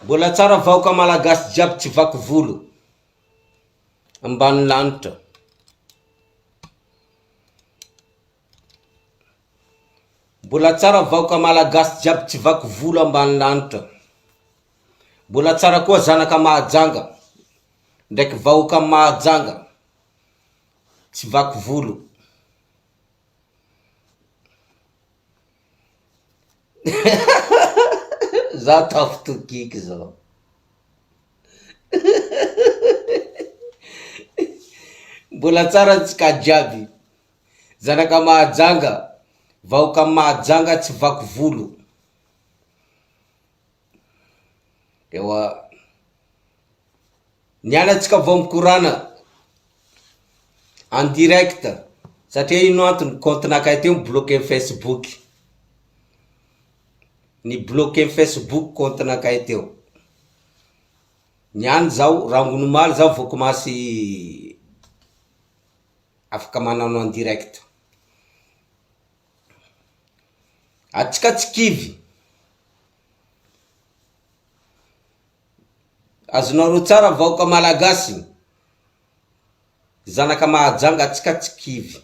Mbola tsara vahoka malagasy jiaby tsy vaky volo ambany lanitra. Mbola tsara vahoka malagasy jiaby tsy vaky volo ambany lanitra. Mbola tsara koa zanaka Mahajanga ndraiky vahoaka Mahajanga tsy vaky volo. Za tafitokiky zao mbola tsara ny tsika jiaby, zanaka Mahajanga, vahoka Mahajanga tsy vaky volo. Ewa. Ny anantsika vao mikorana en direct satria ino antony compte nakay teo mi-bloquer ny Facebook. Ny bloquer ny Facebook compte nakay teo. Ny any zao rangony omaly zao vao komasy afaka manano en direct. Atsikatsikivy. Azonareo tsara vahoka malagasy. Zanaka Mahajanga atsikatsikivy.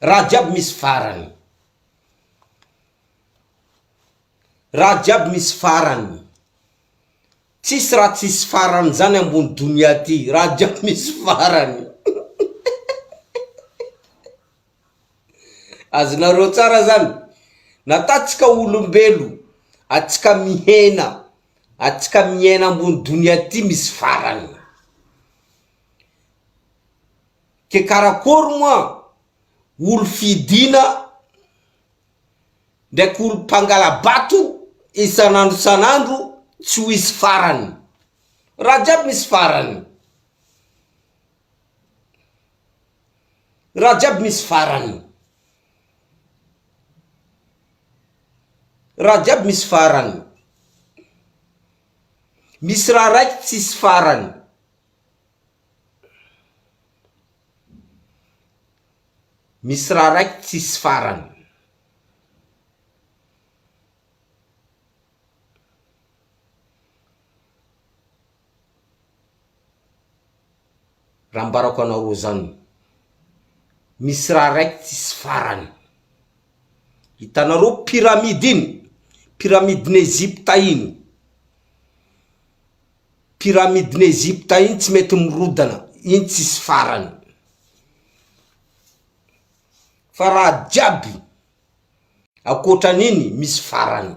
Raha jiaby misy farany. Raha jiaby misy farany. Tsisy raha tsisy farany zany ambony donia ty. Raha jiaby misy farany. Azonareo tsara zany? Natatsika olombelo atsika mihena atsika miaina ambony donia ty misy farany ke karakory moa olo fidina ndraiky olo mpangalabato isanandro isanandro tsy ho hisy farany raha jiaby misy farany. Raha jiaby misy farany. Raha jiaby misy farany. Misy raha raiky tsisy farany. Misy raha raiky tsisy farany. Raha ambarako anareo zany, misy raha raiky tsisy farany, hitanareo pyramide iny, pyramide n'Egypte iny, pyramide n'Egypte iny tsy mety mirodana, iny tsisy farany, fa raha jiaby akoatran'iny misy farany.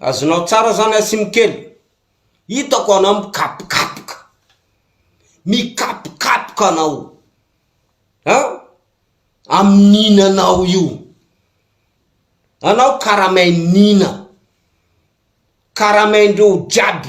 Azonao tsara zany Asim kely. Hitako anao mikapokapoka. Mikapokapoka anao an! Amin'ny ninanao io. Anao karamain'ny nina. Karamaindreo jiaby.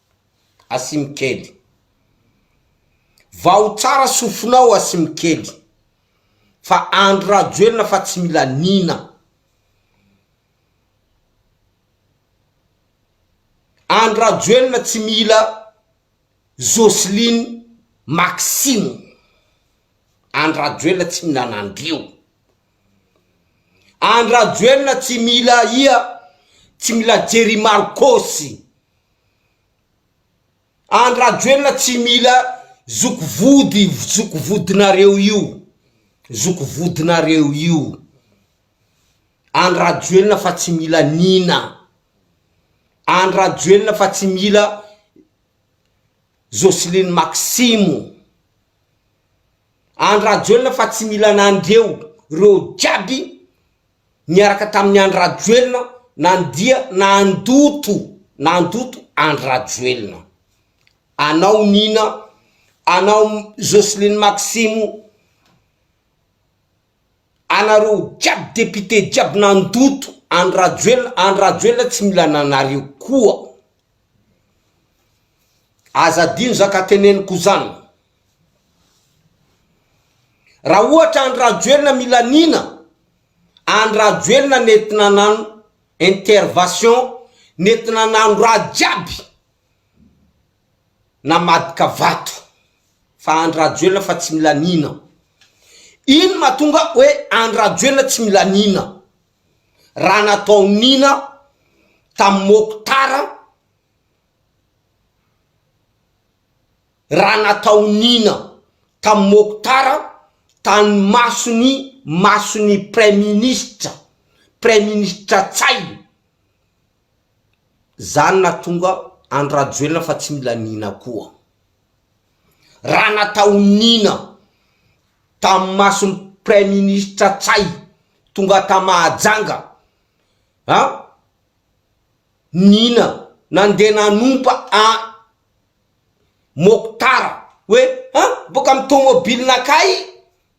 Asimikely. Vaho tsara sofinao Asimikely fa Andry Rajoelina fa tsy mila nina. Andry Rajoelina tsy mila Jocelyne Maxime. Andry Rajoelina tsy mila Nandrio. Andry Rajoelina tsy mila ia tsy mila Jerry Marcos. Andry Rajoelina tsy mila zoky vody zoky vodinareo io zoky vodinareo io Andry Rajoelina fa tsy mila Nina Andry Rajoelina fa tsy mila Joceline Maximo Andry Rajoelina fa tsy mila anareo reo jiaby niaraka tamin'i Andry Rajoelina nandia nandoto nandoto Andry Rajoelina anao Nina anao Jocelyne Maximo anareo jiaby député jiaby nandoto Andry Rajoelina Andry Rajoelina tsy mila ananareo koa aza adino zaka teneniko zany Raha ohatra Andry Rajoelina Milanina Andry Rajoelina nentina nano intervation nentina nano raha jiaby namadika vato fa Andry Rajoelina fa tsy Milanina Ino matonga oe Andry Rajoelina tsy Milanina raha natao nina tam Mokhtar raha nataon'ina tamin'i Mokhtar tany mason'ny mason'ny praiminisitra, praiminisitra Ntsay, zany natonga andry Rajoelina fa tsy mila an'ina koa. Raha nataon'ina tamin'ny mason'ny praiminisitra Ntsay tonga ta Mahajanga an! Nina nandeha nanompa an Mokhtar hoe an boaka am tomobilina kay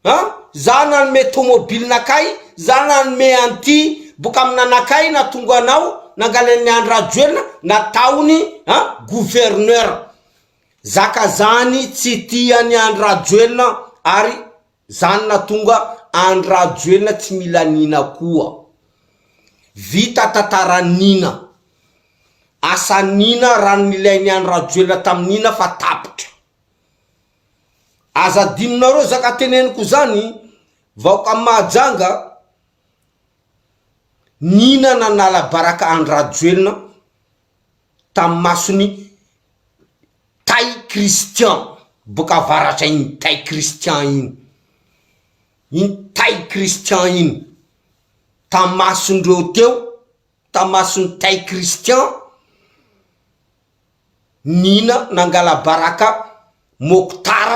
an za nanome tomobilina kay za nanome an ty boka am nanakay natongo anao nangalain'ny Andry Rajoelina nataony an gouverneur zaka zany tsy tian'i Andry Rajoelina ary Zany natonga Andry Rajoelina tsy mila Nina koa. Vita tantaran Nina. Asan Nina raha nilainy Andry Rajoelina tam Nina fa tapitra. Aza adinonareo zaka teneniko zany vahoka Mahajanga Nina nanala baraka Andry Rajoelina. tamin'ny mason'i Tay Christian boka avaratra iny Tay Christian iny, iny Tay Christian iny, tamasondreo teo, tamason'i Tay Christian, nina nangalabaraka Mokhtar,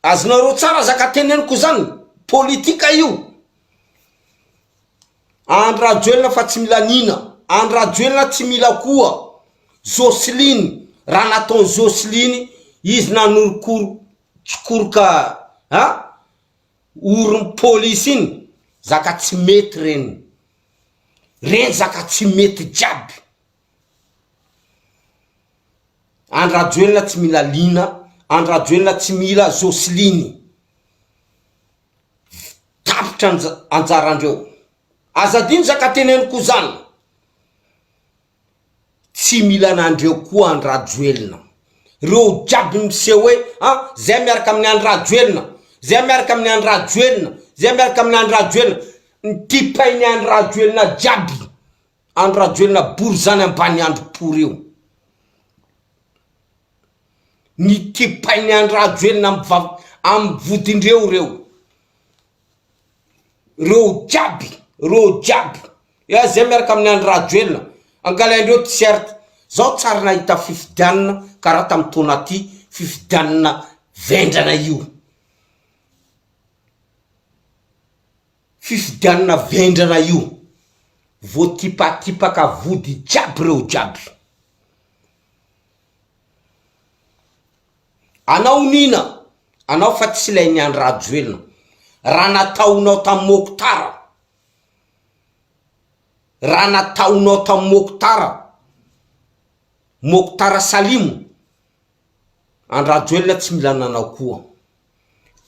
Azonareo tsara zaka teneniko zany politika io Andry rajoelina fa tsy mila Nina Andry rajoelina tsy mila koa Joseline raha nataony Joseline izy nanorokoro tsikoroka a oron'ny polisy iny zaka tsy mety reny reny zaka tsy mety jiaby Andry rajoelina tsy mila liana Andry rajoelina tsy mila josline tapitra anjarandreo aza adino za ka teneniko zan tsy mila anandreo koa Andry rajoelina reo jiaby miseho hoe a zay miaraka aminy Andry rajoelina zay miaraka aminy Andry rajoelina zay miaraka aminy Andry rajoelina ny tipainy Andry rajoelina jiaby Andry Rajoelina borizany Ambaniandro pory io. Ny kipain'i Andry Rajoelina amin'ny vodindreo ireo. Ireo jiaby, ireo jiaby. Eeh zay miaraka amin'i Andry Rajoelina. Angalaindreo t-shirt. Zaho tsy ary nahita fifidianana karaha tamin'ny taona aty, fifidianana vendrana io. Fifidianana vendrana io. Voatipatipaka vody jiaby reo jiaby. Anao nina anao fa tsy lay ny Andry Rajoelina. Raha nataonao tam Mokhtar. Raha nataonao tam Mokhtar. Mokhtar Salim. Andry Rajoelina tsy mila ananao koa.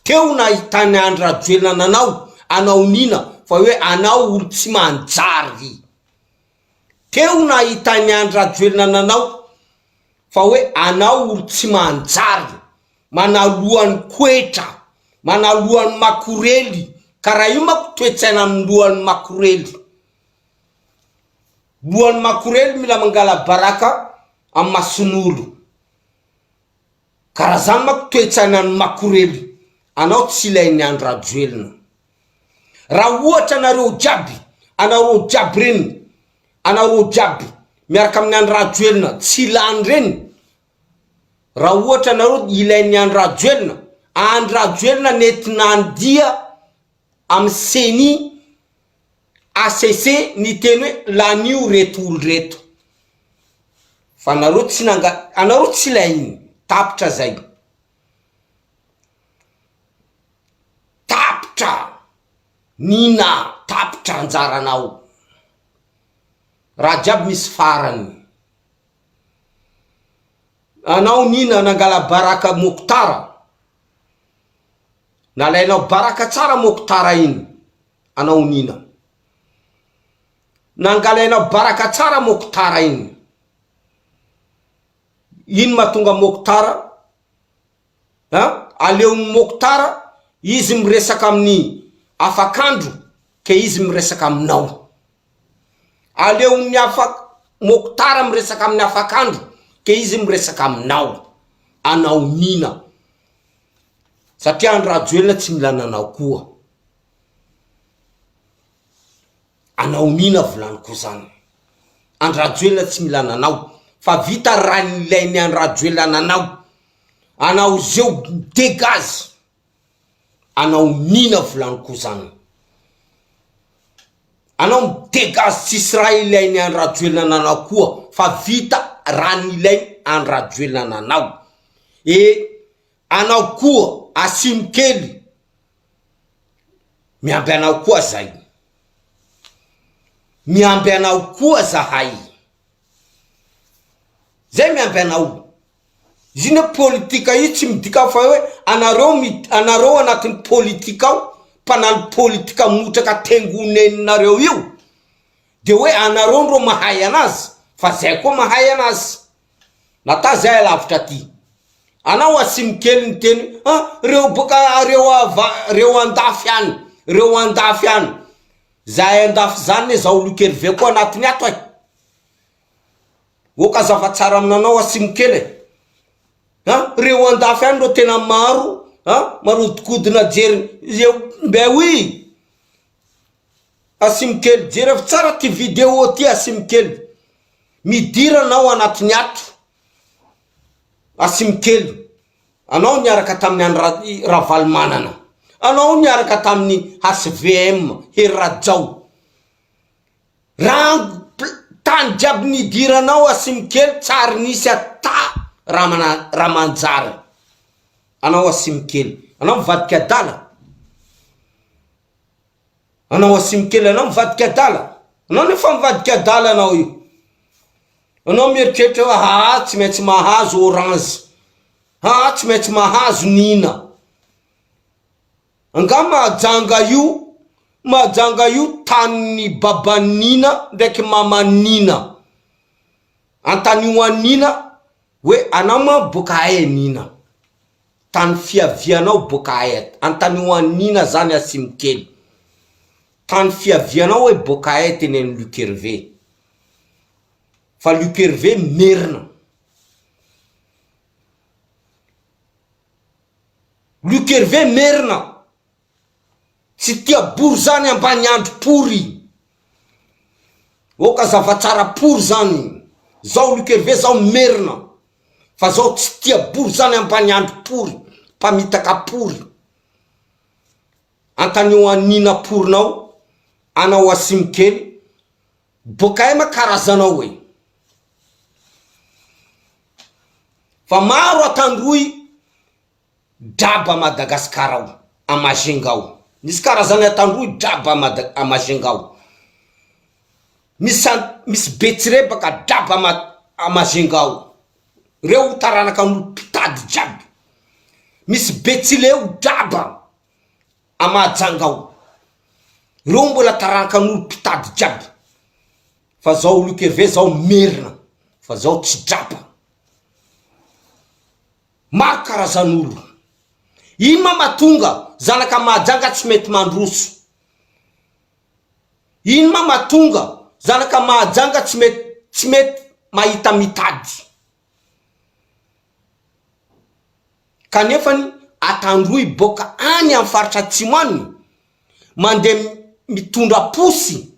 Teo nahitany Andry Rajoelina nanao anaoniana fa hoe anao olo tsy manjary. Teo nahitany Andry Rajoelina nanao fa hoe anao olo tsy manjary, manaloany koetra, manaloany makorely ka raha io manko toetsaina aminy loany makorely. Loany makorely mila mangalabaraka am masonolo. Ka raha zany manko toetsainan'ny makorely anao tsy ilain'ny Andry Rajoelina. Raha ohatra nareo jiaby, anareo jiaby reny, anareo jiaby miaraka amin'ny Andry Rajoelina tsy ilany reny, raha ohatra nareo ilain'ny Andry Rajoelina, Andry Rajoelina nety nandia amin'ny ceni, HCC niteny hoe lanio reto olo reto fa anareo tsy nanga anareo tsy lainy tapitra zay tapitra nina tapitra anjaranao raha jiaby misy farany anao nina nangalabaraka mokotara Nalainao baraka tsara moko tara iny anao nina. Nangalainao baraka tsara moko tara iny. Iny matonga moko tara a aleony moko tara izy miresaka aminy afakandro ke izy miresaka aminao. Aleon'ny afak Mokhtar miresaka amin'ny afakandro dia izy miresaka aminao, anao Nina. Satria andry Rajoelina tsy mila nanao koa. Anao Nina volaniko zany. Andry Rajoelina tsy mila nanao fa vita raha nilainy andry Rajoelina nanao. Anao zeo dégage. Anao nina volany ko zan. Anao mi degage tsisy raha ilainy an Rajoelina nanao koa fa vita raha nilainy an Rajoelina nanao e anao koa asimo kely miamby anao koa zay miamby anao koa zahay zay miamby anao Izy io ne politika io tsy midika fa hoe anareo anareo anatin'ny politika ao mpanalo politika motraka tengo neninareo io de hoe anareo ndro mahay anazy fa zay koa mahay anazy nata zay alavitra aty anao asiny kely ny teny a reo boka reo ava reo andafy any reo andafy any zahay andafy zany ne zaho lokeriveko anatiny ato e Ok azava tsara aminanao asimo kely e an reo andafy any reo tena maro an marodikodina jery eo mbe oui asimo kely jereo tsara ty video ty asimo kely midira anao anatiny ato asimo kely anao niaraka taminy any ra- ravalomanana anao niaraka taminy HVM hery rajao. Rango tany jiaby nidiranao Asimikely tsy ary nisy ata raha manjary anao Asimikely anao mivadika adala anao Asimikely anao mivadika adala anao ny efa mivadika adala anao io anao mieritreritra hoe haa tsy maintsy mahazo orange haa tsy maintsy mahazo nina Angaha mahajanga io mahajanga io tanin'ny baban'i Nina ndraiky maman'i Nina. Antanio an'i Nina hoe anao ma boaka aia Nina? Tany fiavianao boaka aia? Antanio an'i Nina zany Hasimokely. Tany fiavianao hoe boaka aia teny an'i Luc Hervé? Fa Luc Hervé merina. Luc Hervé merina tsy tia bory zany ambany andry pory oka zava tsara pory zany zao luc Hervé zao merina fa zao tsy tia bory zany ambany andry pory mpamitaka pory antanio anina porinao anao asimokely Bkm karazanao e! Fa maro atandroy draba Madagascar ao, à Majunga ao. Misy karazany atandroy draba Mada, à Majunga ao. Misy an, misy betsirebaka draba ama, à Majunga ao. Reo taranaka an'olo mpitady jiaby. Misy betsileo draba A Mahajanga ao. Reo mbola tarankan'olo mpitady jiaby. Fa zao Luc Hervé zao merina fa zao tsy drapa. Maro karazan'olo. Ino ma matonga zanaka Mahajanga tsy mety mandroso? Ino ma matonga zanaka Mahajanga tsy mety tsy mety mahita mitady? Kanefa ny atandroy boaka any amin'ny faritra atsimo any mandeha mitondra posy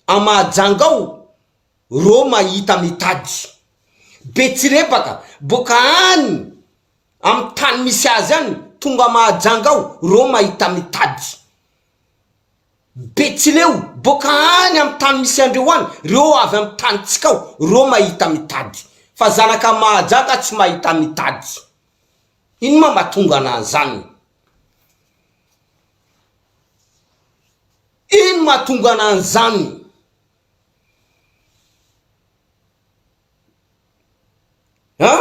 à Mahajanga ao ro mahita mitady. Be tsirepaka boaka any amin'ny tany misy azy any tonga Mahajanga ao ro mahita mitady. Betsileo, boaka any amin'ny tany misy andreo any, reo avy amin'ny tanintsika ao, reo mahita mitady. Fa zanaka mahajaka tsy mahita mitady. Ino ma matonga anan'zany? Ino matonga anan'zany? An?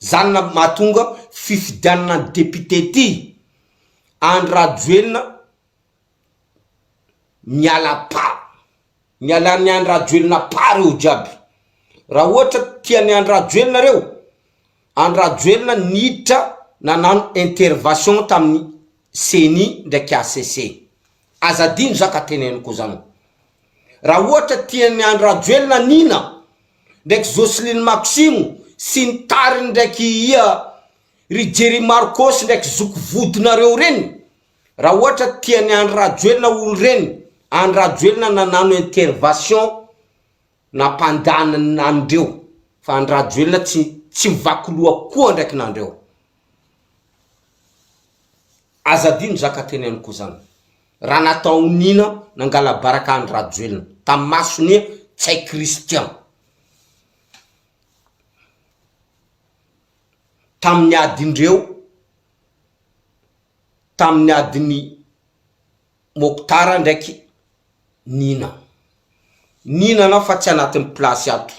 Zany no mahatonga fifidianana ny député ity. Andry Rajoelina miala pas. Miala ny Andry Rajoelina pas reo jiaby. Raha ohatra tia ny Andry Rajoelina reo, Andry Rajoelina niditra nanano intervation taminy ceni ndraiky HCC. Aza adino za ka teneniko zany. Raha ohatra tian'i Andry Rajoelina Nina ndraiky Jocelyne Maximo sy ny tariny ndraiky ia ry Jerry Marcos ndraiky zoky vodinareo reny, raha ohatra tian'i Andry Rajoelina olo reny, Andry Rajoelina nanano intervation nampandaniny anreo fa Andry Rajoelina tsy tsy mivaky loha koa ndraiky nanreo. Aza adino zaka teneniko zany. raha nataon Nina nangalabaraka an Rajoelina tam masony e tsay Christian taminy adindreo taminy adiny Mokhtar ndraiky Nina Nina anao fa tsy anatiny place ato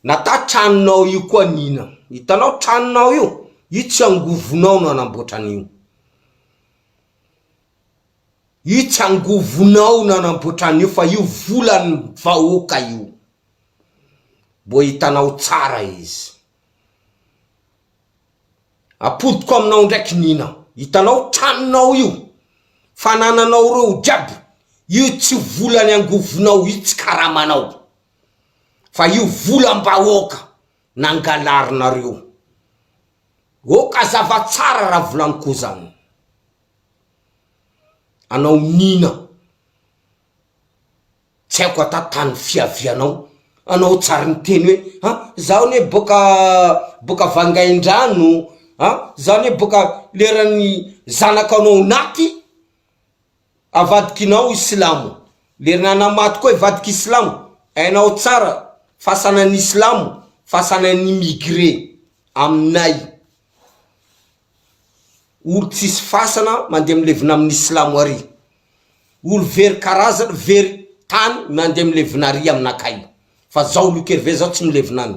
nata tranonao io koa Nina itanao tranonao io io tsy angovonao no anamboatra anio. Io tsy angovonao nanamboatra an'io fa io volan'ny vahoaka io. Mbo hitanao tsara izy. Apodiko aminao ndraiky Nina. Hitanao tranonao io, fanananao reo jiaby, io tsy volan'ny angovonao io tsy karamanao fa io volam-bahoaka. nangalarinareo ô ka zava tsara raha volany ko zany anao nina tsy aiko ata tany fiavianao anao tsary niteny hoe ha zaho anie boka boka vangaindrano a zaho anie boka leran'ny zanakanao naty avadikinao i silamo lerna anao maty koa hivadika i silamo hainao tsara fasanan'ny silamo fasanan'ny immigré aminay olo tsisy fasana mandeha milevina amin'ny silamo ary olo very karazana very tany mandeha milevina ary aminakay fa zao lokerve zao tsy milevina any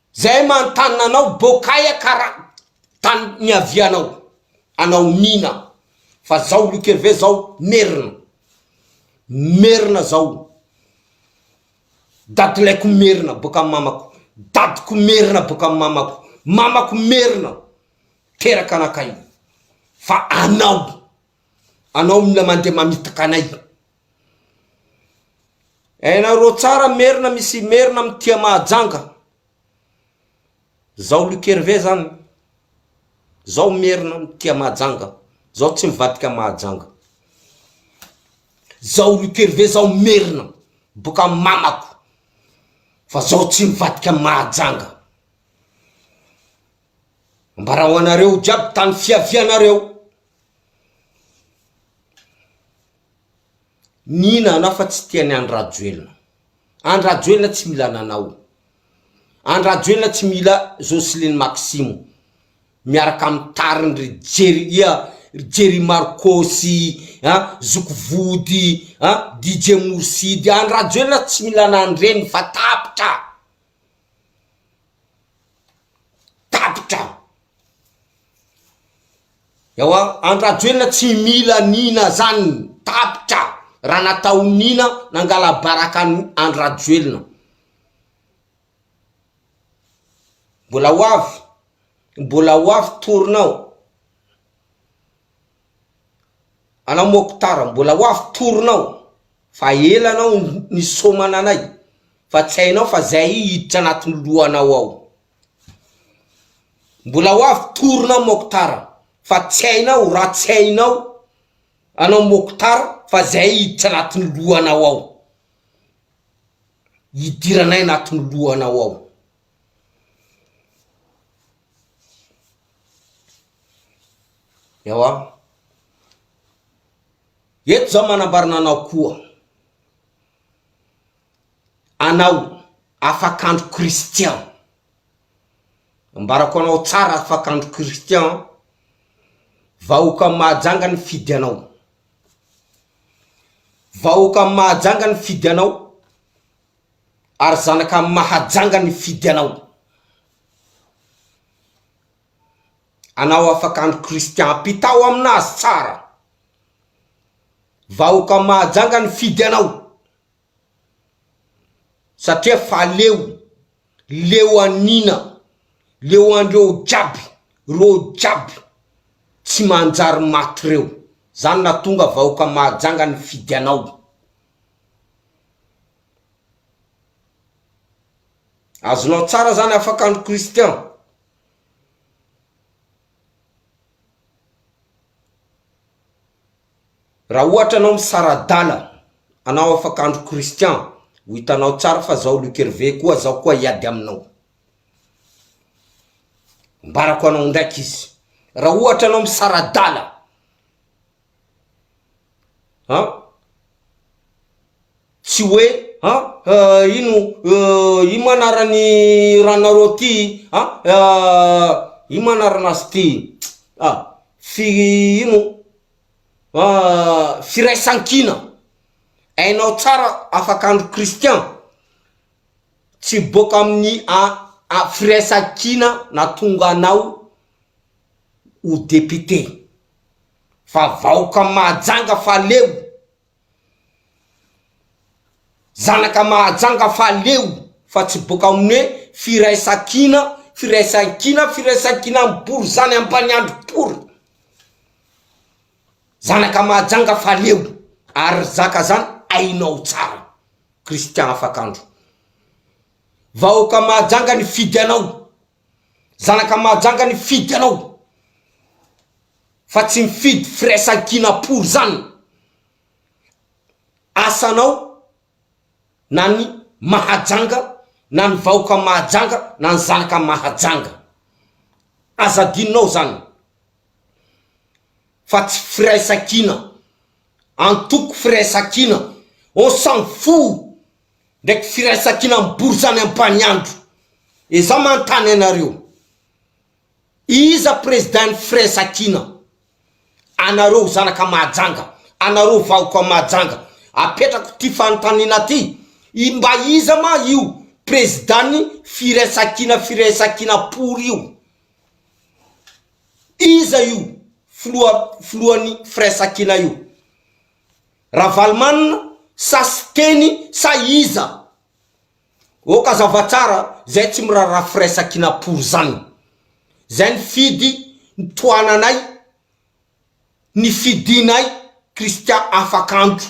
Zay manontana anao bokaia kara tany niavianao anao Nina fa zao Luc Hervé zao merina merina zao dadilaiko merina boka am mamako dadiko merina boka am mamako mamako merina teraka anakay fa anao anao mila mande mamitaka anay Hainareo tsara merina misy merina am tia mahajanga zao Luc Hervé zany zao merina am tia mahajanga zao tsy mivadika mahajanga zao Luc Hervé zao merina boka am mamako fa zao tsy mivadika mahajanga ambarao anareo jiaby tany fiavianareo. Nina anao fa tsy tiany Andry Rajoelina. Andry Rajoelina tsy mila ananao. Andry Rajoelina tsy mila Jocelyne Maximo miaraka amin'ny tariny ry Jerry ia, ry Jerry Marco sy an, Zoky Vody an, DJ Mourside. Andry Rajoelina tsy mila anan'ireny fa tapitra. tapitra aho. Ewa Andry Rajoelina tsy mila nina zany tapitra raha natao nina nangala baraka an'i Andry Rajoelina. Mbola ho avy, mbola ho avy tournant. Anao Moktar mbola ho avy torinao fa ela anao nisômana anay fa tsy hainao fa zay hiditra anatin'ny lohanao ao. Mbola ho avy torinao Moktar fa tsy hainao raha tsy hainao anao Moktar fa zay hiditra anatin'ny lohanao ao. Hidiranay anatin'ny lohanao ao. Ewa. Eto zao manambarina anao koa. Anao, afak'andro Christian. Ambarako anao tsara afak'andro Christian an. Vahoaka am Mahajanga nifidy anao. Vahoaka am Mahajanga nifidy anao. ary zanaka amin'ny mahajanga ny fidy anao. Anao afaka andro Christian ampitao aminazy tsara. Vahoka mahajanga ny fidy anao. Satria fa leo, leo anina, leo andreo jiaby, reo jiaby tsy manjary maty reo. Zany natonga vahoka mahajanga ny fidy anao. Azonao tsara zany afaka andro Christian. Raha ohatra anao misaradala anao afaka andro Christian ho hitanao tsara fa zao Luc Hervé koa zao koa hiady aminao. Ambarako anao ndraiky izy raha ohatra anao misaradala. An! Tsy hoe an! ino ino moa anaran'ny ranonareo aty an! ino moa anaran'azy ty an! fi ino firaisankina, hainao tsara afak'andro Christian tsy boaka amin'ny a firaisankina nahatonga anao ho député. fa vahoka mahajanga fa leo, zanaka mahajanga fa leo fa tsy boka amin'ny hoe firaisankina, firaisankina, firaisankina mibory zany ampaniandry pory, zanaka mahajanga fa leo ary ry zaka zany hainao tsara, Christian Afakandro, vahoka mahajanga nifidy anao. Zanaka Mahajanga nifidy anao fa tsy mifidy firaisankina pour zany asanao na ny Mahajanga na ny vahoka Mahajanga na ny zanaka Mahajanga aza adinonao zany fa tsy firaisankina antoko firaisankina on s'en fou. ndraiky firaisankina mibory zany ampaniandro e za manontany anareo iza president ny firaisakina anareo zanaka mahajanga anareo vahoka mahajanga apetrako ty fanontaniana ty i mba iza ma io president ny firaisakina firaisakina pory io iza io filoha filohan'ny firaisakina io Ravalomanana sa Siteny sa iza? Ok azava tsara zay tsy miraharaha firaisankinapory zany. Zay nifidy ny tohananay nifidinay Christian Afakandro.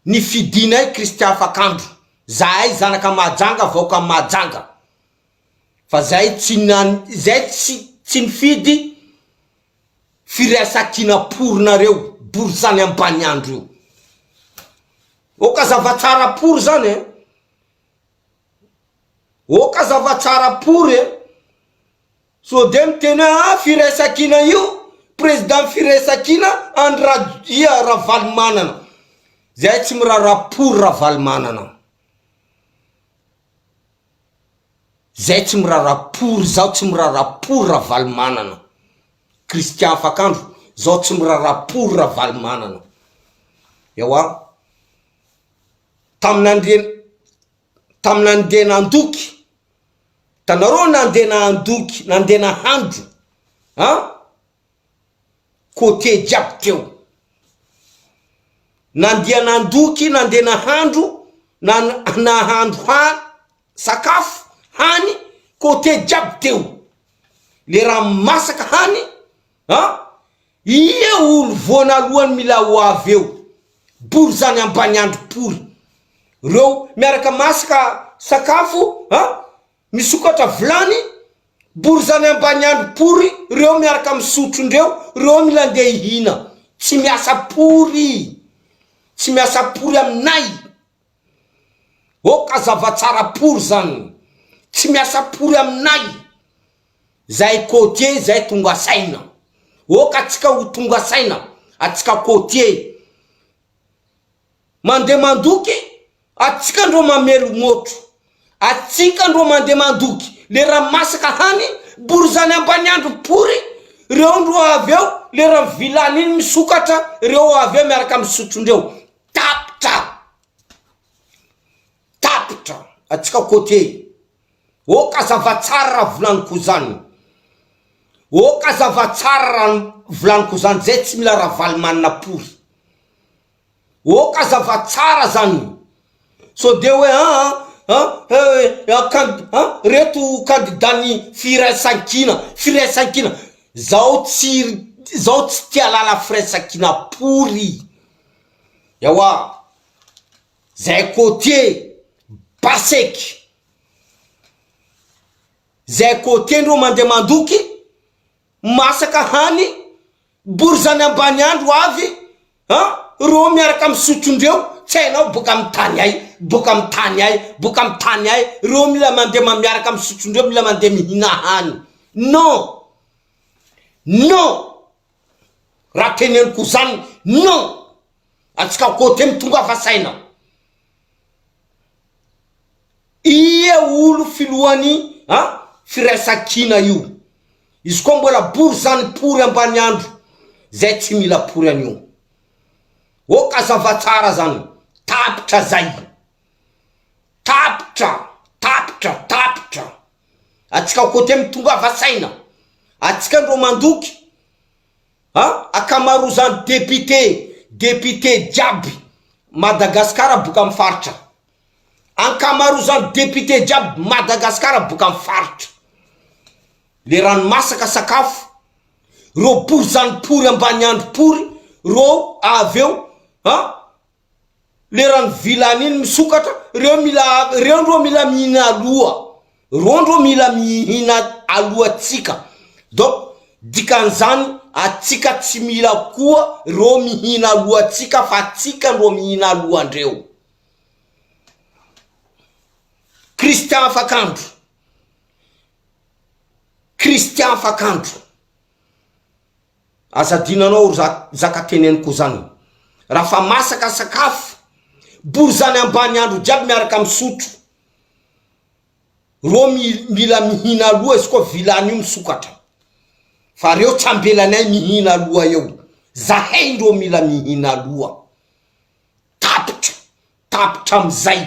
Nifidinay Christian Afakandro. Zahay zanaka Mahajanga vahoaka Mahajanga. Fa zay tsy nan zay tsy tsy nifidy firaisankina pory nareo borizany ambaniandro io oka zavatsara pory zany e oka zavatsara pory e so de miteny hoe a firaisankina io president firaisankina andry rajoia ravalomanana zahay tsy miraharaha pory ravalomanana Zay tsy mirara pory zao tsy mirara pory Ravalomanana Christian Afakandro zao tsy mirara pory Ravalomanana ewa tamina ndre tamina nde nandoky tanareo nande nandoky nande nahandro an côté jiaby teo. Nandia nandoky nandeha nahandro na nahandro ha sakafo hany côté jiaby teo le raha masaka hany a ia olo voanalohany mila ho avy eo bory zany ambaniandro pory reo miaraka masaka sakafo a Misokatra vilany, borizany ambaniandro pory reo miaraka misotro ndreo reo mila ndeha hihina tsy miasa pory tsy miasa pory aminay ok azava tsara pory zany tsy miasa pory aminay zahay cotier zahay tonga saina ok atsika ho tonga saina atsika cotier Mandeha mandoky atsika ndro mamely motro atsika ndro mandeha mandoky le ra masaka hany borizany ambaniandro pory reo ndro avy eo le ra vilany iny misokatra reo avy eo miaraka am sotrondreo tapitra tapitra atsika cotier oh ka zava tsara ra volaniko zany oh ka zava tsara ra volaniko zany zay tsy mila ravalomanina pory. Ok aza fa tsara zany o! Sao dia hoe an an eh an kan an reto kandida ny firaisankina firaisankina zaho tsy zaho tsy tia lala firaisankina pory ewa zay côtier baseky zay côtier ndreo mandeha mandoky masaka hany Borizany ambany andro avy an reo miaraka misotro ndreo tsy hainao boka am tany ai boka am tany ai boka am tany ai reo mila mande ma miaraka misotro ndreo mila mande mihina hany non non raha teneniko zany non atsika kote mitongava saina. Ia olo filohan'i an firaisankina io? Izy koa mbola bory zany pory ambaniandro zay tsy mila pory anio. Ok azava tsara zany tapitra zay. Tapitra tapitra tapitra. Atsika kote mitongava saina. Atsika ndro mandoky. A, akamarozany député, député jiaby Madagascar boka am faritra. Ankamarozany député jiaby Madagascar boka am faritra. Le rano masaka sakafo, reo borizano pory ambaniandro pory reo avy eo a, leran'ny vilany iny misokatra reo mila reo ndro mila mihina aloha reo ndro mila mihina alohantsika donc dikan'izany atsika tsy mila koa reo mihina alohantsika fa atsika ndro mihina alohandreo Christian Afakandro Christian Afakandro Aza adino anao ry zaka teneniko zany raha fa masaka sakafo bory zany ambany andro jiaby miaraka misotro rô mila mihina aloha izy koa vilany io misokatra fa reo tsy ambelanay mihina aloha eo zahay ndrô mila mihina aloha tapitra tapitra amizay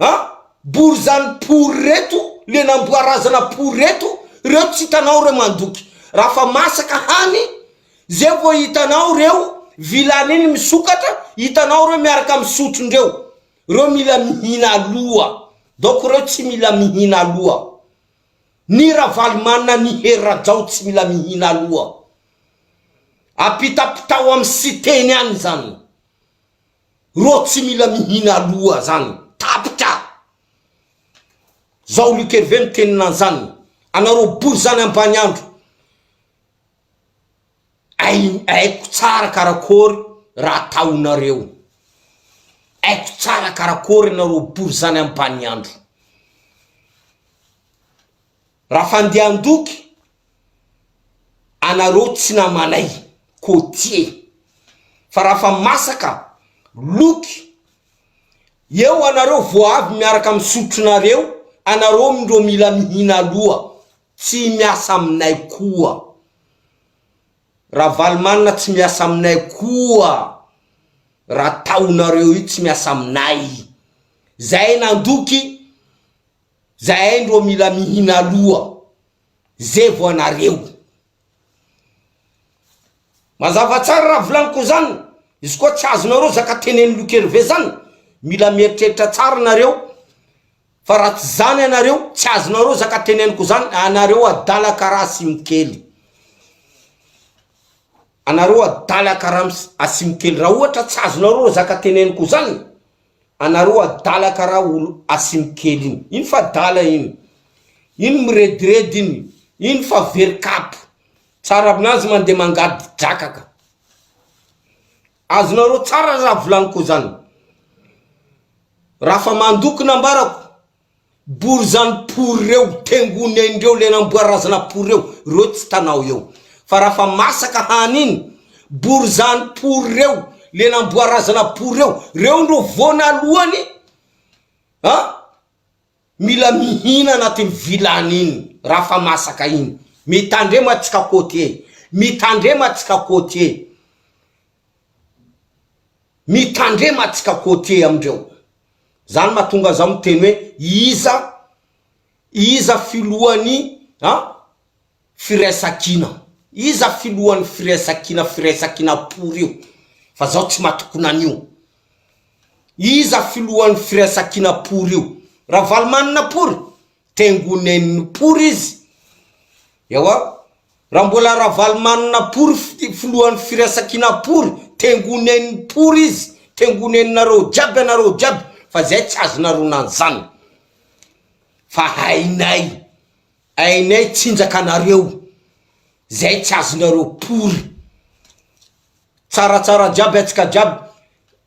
A! bory zany pory reto le namboa razana pory reto reo tsy hitanao reo mandoky raha fa masaka hany zay vo hitanao reo vilany iny misokatra hitanao reo miaraka misotro ndreo reo mila mihina aloha donc reo tsy mila mihina aloha ny ravalomanina ny hery rajao tsy mila mihina aloha apitapitao am siteny any zany Rô tsy mila mihina aloha zany tapitra zao Luc Hervé miteny nanzany anareo bory zany ambany andro aiko tsara karakory raha ataonareo aiko tsara karakory anareo bory zany ambany andro. Raha fandehan-doky anareo tsy namanay côtier fa raha fa masaka loky eo anareo vao avy miaraka amin'ny sotronareo anareo ndro mila mihina aloha tsy miasa aminay koa Ravalomanana tsy miasa aminay koa raha ataonareo io tsy miasa aminay zay nandoky Zahay ndro mila mihina aloha zay vo anareo. Mazava tsara raha volaniko zany, izy koa tsy azonareo zaka tenen'i Lokerve zany, mila mieritreritra tsara nareo fa raha tsy zany anareo, tsy azonareo zaka teneniko zany, anareo adala karaha asimokely, anareo adala karaha asimokely, raha ohatra tsy azonareo zaka teneniko zany, Anareo adala kara olo asimokely iny ino fa adala iny iny mirediredy iny iny fa very kapo tsara aminazy mande mangady drakaka azonareo tsara raha volaniko zany raha fa mandoko nambarako Bory zany pory reo tengony ainy reo le namboary razana pory reo reo tsy tanao eo fa raha fa masaka hany iny bory zany pory reo le namboary razana pory reo reo ndro voanalohany a mila mihina anatiny vilany iny raha fa masaka iny mitandrema atsika koty e mitandrema atsika koty e mitandrema atsika koty e amindreo Zany mahatonga zaho miteny hoe iza iza filohan'ny a firaisankina? Iza filohan'ny firaisankina firaisankina pory io fa zaho tsy matokona an'io. Iza filohan'ny firaisankina pory io? Ravalomanana pory? Tengonenin'i Pory izy. Ewa, raha mbola Ravalomanana Pory filohan'ny firaisankina Pory, tengonenin'i Pory izy, tengoneninareo jiaby ianareo jiaby fa zay tsy azonareo nanzana. Fa hainay, hainay tsinjaka anareo, zay tsy azonareo Pory. Tsaratsara jiaby atsika jiaby,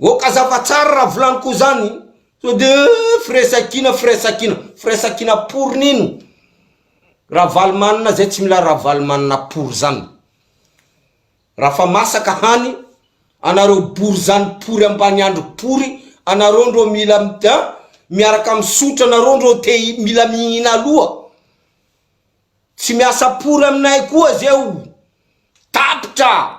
Oka zava tsara raha volany ko zany sao de firaisankina firaisankina firaisankina pour nino ravalomanina zay tsy mila ravalomanina pour zany raha fa masaka hany anareo bory zany pory ambaniandro pory anareo ndro mila mida miaraka misotra anareo ndro te mila mihina aloha tsy miasa pory aminay koa zay o tapitra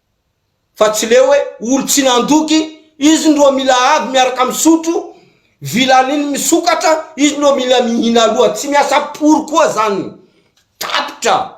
fa tsy leo hoe olo tsy nandoky izy ndro mila avy miaraka misotro vilaniny misokatra izy ndro mila mihina aloha tsy miasa pory koa zany tapitra